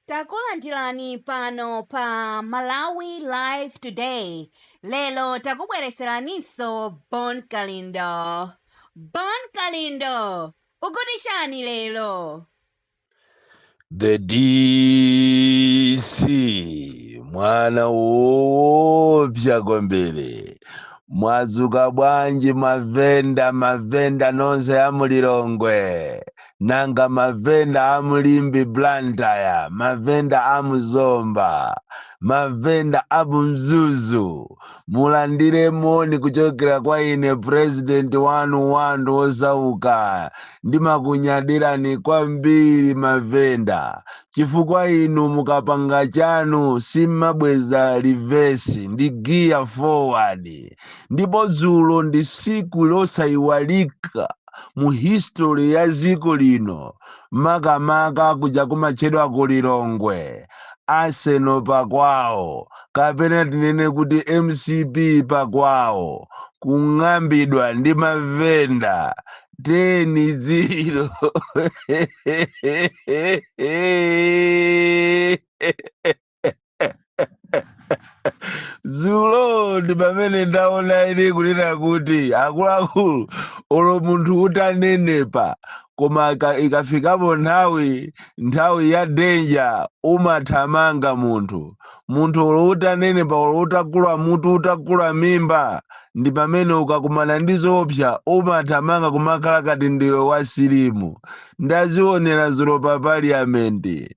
Takulandirani pano pa Malawi Live Today. Lero takubweretseraninso Bon Kalindo. Bon Kalindo, ukuti chani lero? The DC mwana woopsa kwambiri mwadzuka bwanji mavenda mavenda nonse a mu Lilongwe Nanga mavenda amu Limbe Blantyre, mavenda amu Zomba, mavenda amu Mzuzu mulandire moni kuchokera kwa ine president wanu wa anthu osauka. Ndimakunyadirani kwambiri mavenda chifukwa inu mukapanga chanu simmabweza reverse ndi gear forward ndipo dzulo ndi siku losaiwalika. mu history ya dziko lino makamaka kuja kumatchedwa ku lilongwe arsenal pakwawo kapena tinene kuti mcp pakwawo kung'ambidwa ndi mavenda 10 ziro zulo ndi pamene ndaona ine kunena kuti akuluakulu olo munthu utanenepa koma ikafikapo nthawi nthawi ya danger umathamanga munthu munthu olo utanenepa olo utakula mutu utakula mimba ndi pamene ukakumana ndi zoopsa umathamanga kumakhala kati ndiwe wasilimu ndazionera zulo pa paliamenti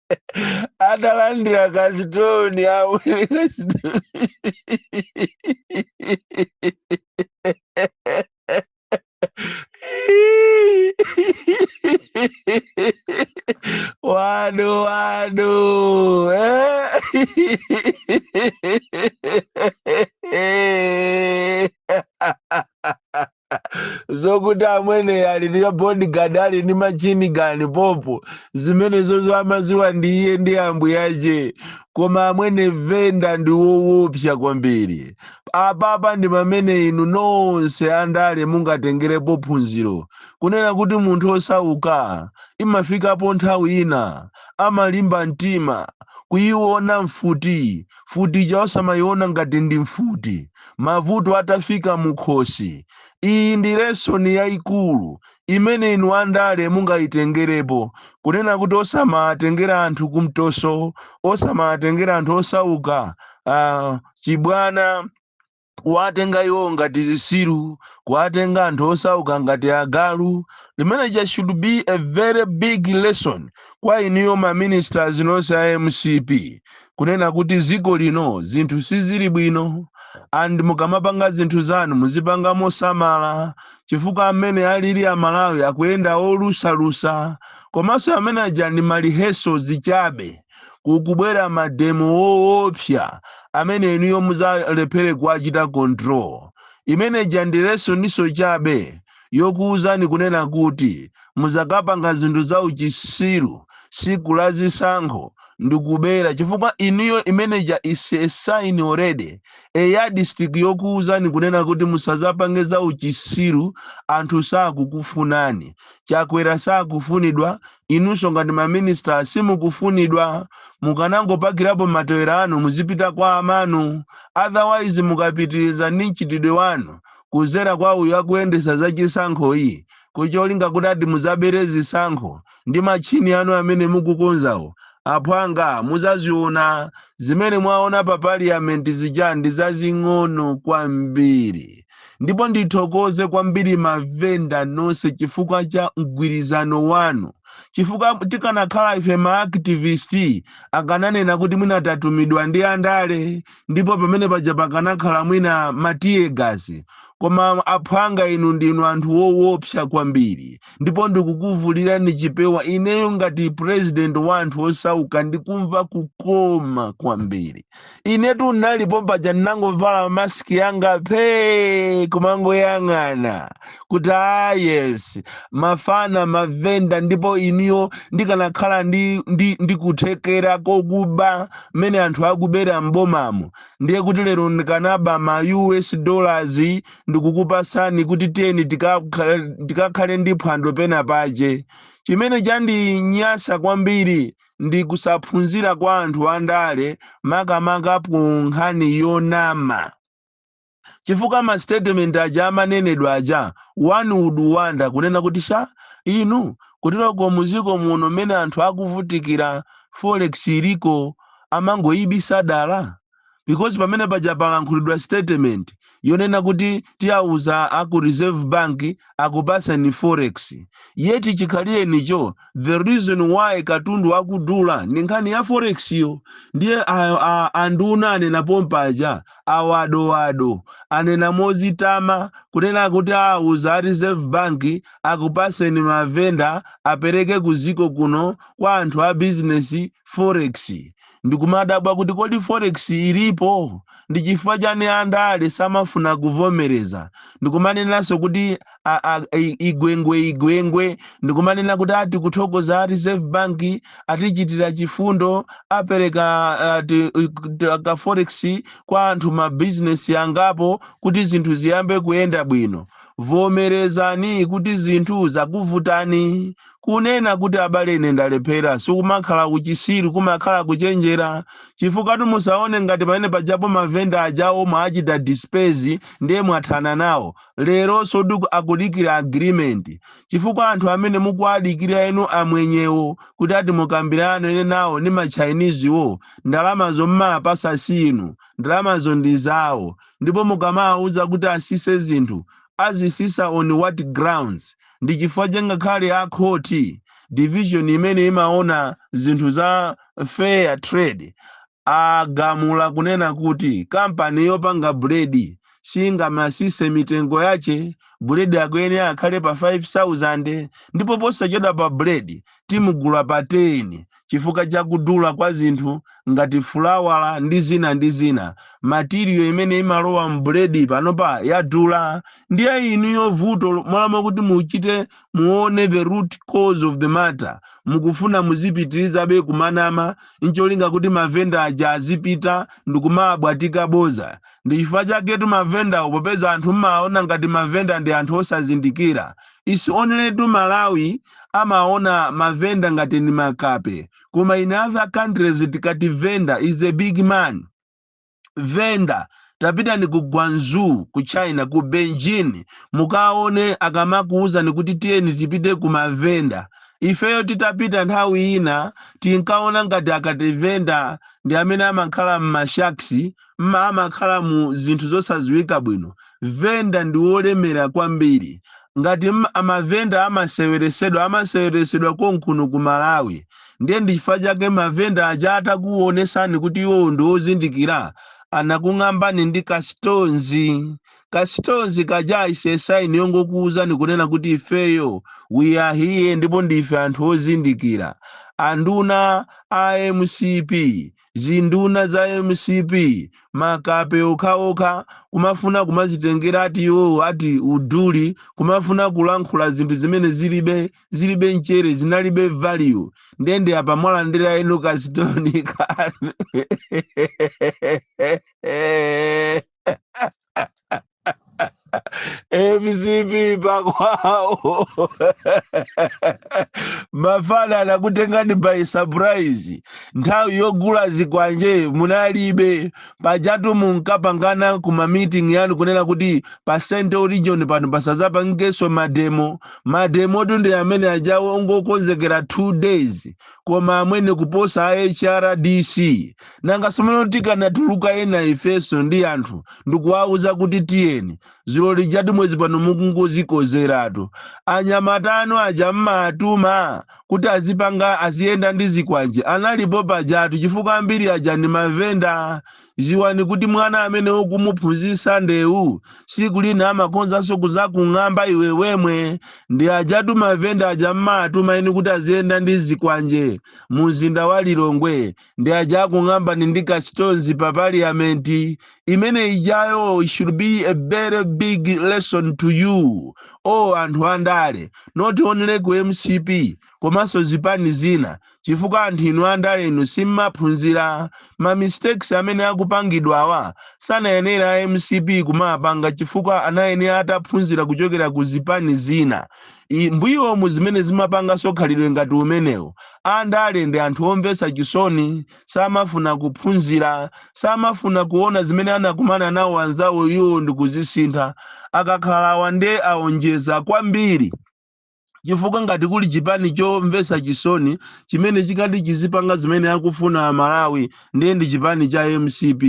atalandira kasitoni awo wanu wanu eh? zokuti amwene ali ndi bodyguard ali ndi machini gani popo zimenezozo amaziwa ndi iye ndi ambuyache koma amwene venda ndi wowopsa kwambiri apapa ndi pamene inu nonse andale mungatengerepo phunziro kunena kuti munthu osauka imafikapo nthawi ina amalimba mtima kuyiona mfuti Mfuti ija osamayiona ngati ndi mfuti, mavuto atafika mukhosi, iyi ndi lesson yaikulu imene inu andale mungayitengerepo kunena kuti osamawatengera anthu kumtoso, osamawatengera anthu osauka, aah chibwana. kuwatenga iwo ngati zisiru kuwatenga anthu osauka ngati agalu limene ja should be a very big lesson kwa iniyo ma ministers nonse a mcp kunena kuti ziko lino zinthu sizili bwino and mukamapanga zinthu zanu muzipanga mosamala chifukwa amene alili amalawi akuyenda olusalusa komanso imene ija ndi marihesal zichabe kukubwera mademo woopsa amene inuyo muzalephere kuwachita control imene ija ndi lesoninso chabe yokuwuzani kunena kuti muzakapanga zinthu za uchisiru siku la zisankho ndikubera chifukwa inuyo imene ija is a sign already a yardstick yokuwuzani kunena kuti musazapange za uchisiru anthu sakukufunani chakwera sakufunidwa Inunso ngati ma minister simukufunidwa mukanangopakirapo matewera anu muzipita kwa amanu otherwise mukapitiliza ndi mchitidwe wanu kuzera kwa uyu akuyendesa za chisankho iyi ku cholinga kuti ati muzabere zisankho ndi ma tchini anu amene mukukonzawo aphwanga muzaziona zimene mwaona pa parliament zija ndi zazing'ono kwambiri. ndipo ndithokoze kwambiri mavenda nonse chifukwa cha mgwirizano wanu chifukwa tikanakhala ife maaktivist akananena kuti mwina tatumidwa ndi andale ndipo pamene paja pakanakhala mwina matiyegasi koma aphwanga inu ndinu anthu wowopsa kwambiri ndipo ndikukuvulirani chipewa ineyo ngati president wa anthu osauka ndikumva kukoma kwambiri inetu nnali pompaja ndinangovala mask yanga phee kumangoyang'ana kuti ah yes mafana mavenda ndipo ineyo ndikanakhala ndi, ndi, ndi kuthekera kokuba mmene anthu akubera m'bomamo ndiye kuti lero ndikanaba ma us dollars ndikukupasani kuti tiyeni tikakhale tikakhale ndi phwando pena pache chimene chandinyasa kwambiri ndi kusaphunzira kwa anthu andale makamaka pa nkhani yonama chifukwa ma statement aja amanenedwa aja one would wonder kunena kuti sha inu kuteroko muziko muno mmene anthu akuvutikira forex iliko amangoyibisa dala because pamene paja palankhulidwa statement yonena kuti tiyauza aku reserve bank akupaseni forex yet chikhalirenicho the reason why katundu akudula ndi nkhani ya forex yo ndiye a- a- anduna anena pompaja a wado wado anena mozitama kunena kuti auza a reserve bank akupaseni mavenda apereke kuziko kuno kwa anthu a bizinesi forex Ndikumadabwa kuti kodi forex ilipo? Ndichifukwa chani a ndale samafuna kuvomereza? Ndikumanenanso kuti a, a, i, igwengwe igwengwe. Ndikumanena kuti ati kuthokoza a Reserve Bank atichitira chifundo apereka a, ti, ti, ka forex kwa anthu ma business angapo kuti zinthu ziyambe kuyenda bwino. Vomerezani kuti zinthu zakuvutani. Kunena kuti abale ine ndalephera sikumakhala uchisiru kumakhala kuchenjera chifukwa musaone ngati pamene pajapo mavenda ajawo mwachita disperse ndiye mwathana nawo leroso akudikira agreement chifukwa anthu amene mukuwadikira inu amwenyewo kuti ati mukambirane nawo ndi ma Chinese wo ndalamazo mmawapasa si inu ndalamazo ndi zawo ndipo mukamawauza kuti asise zinthu azisisa on what grounds? Ndi chifukwa chake ngakhale a khoti, division imene imaona zinthu za fair trade agamula kunena kuti kampani yopanga buledi singamasise mitengo yache, buledi akuyenera akhale pa 5000 ndipo posachedwapa buledi timugula pa 10. chifukwa cha kudula kwa zinthu ngati fulawa ndi zina ndi zina material imene imalowa m'buledi panopa yadula ndiye inuyo vuto mmalo kuti muchite muone the root cause of the matter mukufuna muzipitirizabe kumanama ncholinga kuti mavenda aja azipita ndikumabwatika boza ndi chifukwa chaketu mavendawo popeza anthu mmaona ngati mavenda ndi anthu osazindikira It's onlytu Malawi amaona ma vendor ngati ndi makape koma in other countries tikati vendor is a big man. Vendor tapitani ku Guangzhou ku China ku Beijing mukaone akamakuwuzani kuti tiyeni tipite kwa mavenda. Ifeyo titapita nthawi ina tinkaona ngati akati venda ndi amene amakhala m'ma shacks ma amakhala mu zinthu zosadziwika bwino. Venda ndi wolemera kwambiri. Ngati mavenda amaseweresedwa amaseweresedwa konkuno ku Malawi. Ndiye ndi chifukwa chake mavenda aja atakuwonesani kuti iwo ndi ozindikira anakung'ambani ndi ka stones. Ka stones kaja is a sign yongokuwuzani kunena kuti ifeyo we are here ndipo ndife anthu ozindikira. Anduna a mcp. zinduna za mcp makape okhaokha kumafuna kumazitengera ati iwowo ati uduli kumafuna kulankhula zinthu zimene zilibe zilibe mchere zinalibe value nde ndiye apa mwalandira yenu kasitoni kanu mcp pakwawo mafana anakutengani by surprise nthawi yogula zikwanje munalibe pajatu munkapangana ku ma meeting yanu kunena kuti pa central region pano pasazapangikenso mademo mademotu ndi amene ajawo ongokonzekera two days koma amwene kuposa a hrdc nanga somano kuti tikanatuluka ena ifeso ndi anthu ndikuwauza kuti tiyeni zulo lijatu mwezi pano mukungozikozeratu anyamata anu aja mmaatuma kuti azipanga aziyenda ndi zikwanje analipo pajatu chifukwa ambiri aja ndi mavenda Ziwani kuti mwana amene ukumuphunzisa ndewu siku lina amakhonzaso kuzakung'amba iwe yemwe ndi ajatu mavenda aja mmaatuma inu kuti aziyenda ndi zikwanje mumzinda wa Lilongwe ndi aja akung'ambani ndi kastonzi pa parliament imene ijayo it should be a very big lesson to you o anthu andale not only ku mcp komanso zipani zina chifukwa anthu inu andale inu simmaphunzira ma mistakes amene akupangidwawa sanayenera a mcp kumawapanga chifukwa anayenera ataphunzira kuchokera ku zipani zina mbuyomu zimene zimapanganso khalidwe ngati umenewu andale ndi anthu omvetsa chisoni samafuna kuphunzira samafuna kuona zimene anakumana nawo anzawo iwo ndikuzisintha akakhala awa nde aonjeza kwambiri chifukwa ngati kuli chipani chomvetsa chisoni chimene chikadati chizipanga zimene akufuna amalawi ndiye ndi chipani cha mcp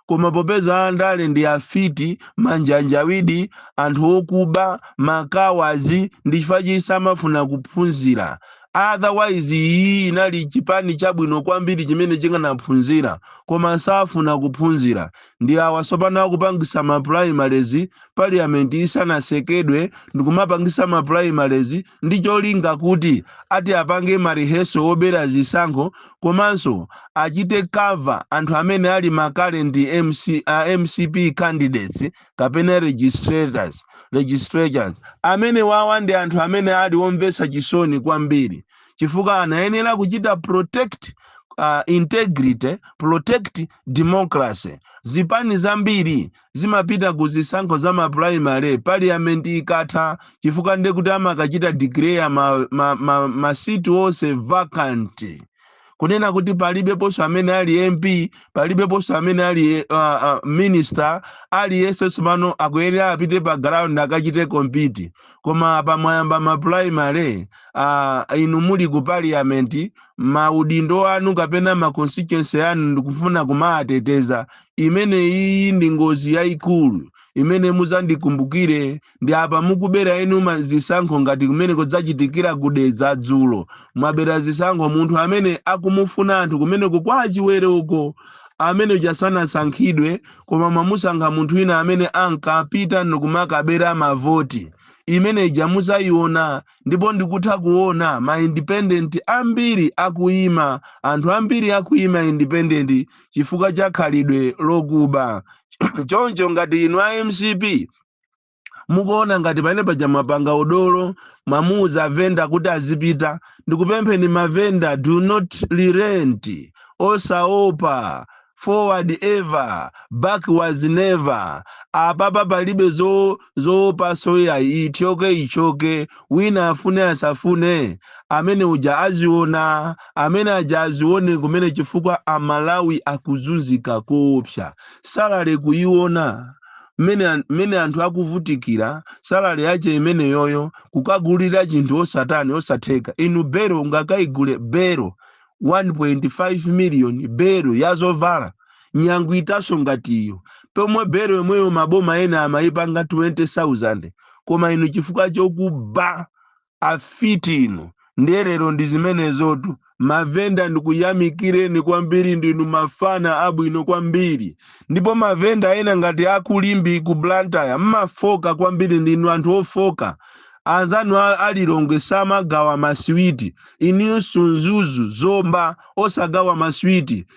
koma popeza andale ndi afiti manjanjawidi anthu okuba makawazi ndi chifukwa chake samafuna kuphunzira otherwise iyi inali chipani chabwino kwambiri chimene chikanaphunzira koma safuna kuphunzira Ndi awa tsopano akupangisa ma primaries parliament isanasekedwe ndikumapangisa ma primaries ndi cholinga kuti ati apange ma rehearsal obera zisankho komanso achite cover anthu amene ali ma current a mcp candidates kapena legislators amene wawa ndi anthu amene ali omvetsa chisoni kwambiri chifukwa anayenera kuchita protect integrity protect Democracy, Zipani zambiri zimapita ku zisankho za ma primary parliament ikatha chifukwa ndekuti amakachita declare ma seat onse vacant kunena kuti palibeponso amene ali MP palibeponso amene ali minister aliyense somano akuyenera apite pa ground akachite compete koma apa mwayamba ma primary ah, inu muli ku parliament maudindo anu kapena ma constituency anu mukufuna kumawateteza imene iyi ndi ngozi yayikulu imene muzandikumbukire ndi apa mukubera inu ma- zisankho ngati mmene zachitikira ku Dedza dzulo mwabera zisankho munthu amene akumufuna anthu kumene kwa Chiwere uko amene ujasanasankhidwe koma mwamusankha munthu wina amene ankapita ndikumakabera mavoti. Imene ija muzaiona ndipo ndikutha kuona ma independent ambiri akuima, anthu ambiri akuima independent chifukwa cha khalidwe lokuba. Choncho ngati inu a mcp mukuona ngati pamene paja mwapanga udolo mwauza mavenda kuti azipita ndikupempheni mavenda do not relent osaopa forward ever backwards never apapa palibe zo zoopa soya ichoke ichoke wina afune asafune amene uja aziona amene aja azione kumene chifukwa amalawi akuzunzika koopsa salary kuiona mmene an- mmene anthu akuvutikira salary yache imeneyoyo kukagulira chinthu osatani osatheka inu bero ungakaigule bero 1.5 million bero yazovala nyangu itatsonso ngati iyo pomwe bero yomweyo maboma ena amaipanga 20000 koma inu chifukwa chokuba Afiti inu ndiye lero ndi zimenezotu. Ma venda ndikuyamikireni kwambiri ndinu mafana abwino kwambiri. Ndipo ma venda ena ngati a ku Limbe ku Blantyre mmafooka kwambiri ndinu anthu ofooka. Anzanu a a Lilongwe samagawa maswiti, inuyonso Mzuzu, Zomba osagawa maswiti.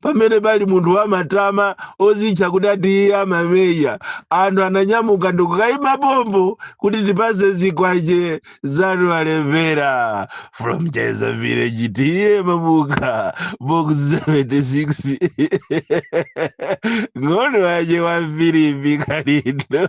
pamene pali munthu wamatama odzitcha kuti ati iye amameya anthu ananyamuka ndikukayima pompo kuti tipase zikwache zanu walembera from cheza village tiye mabuka box 76 ng'ono wache wa Filipi Kalindo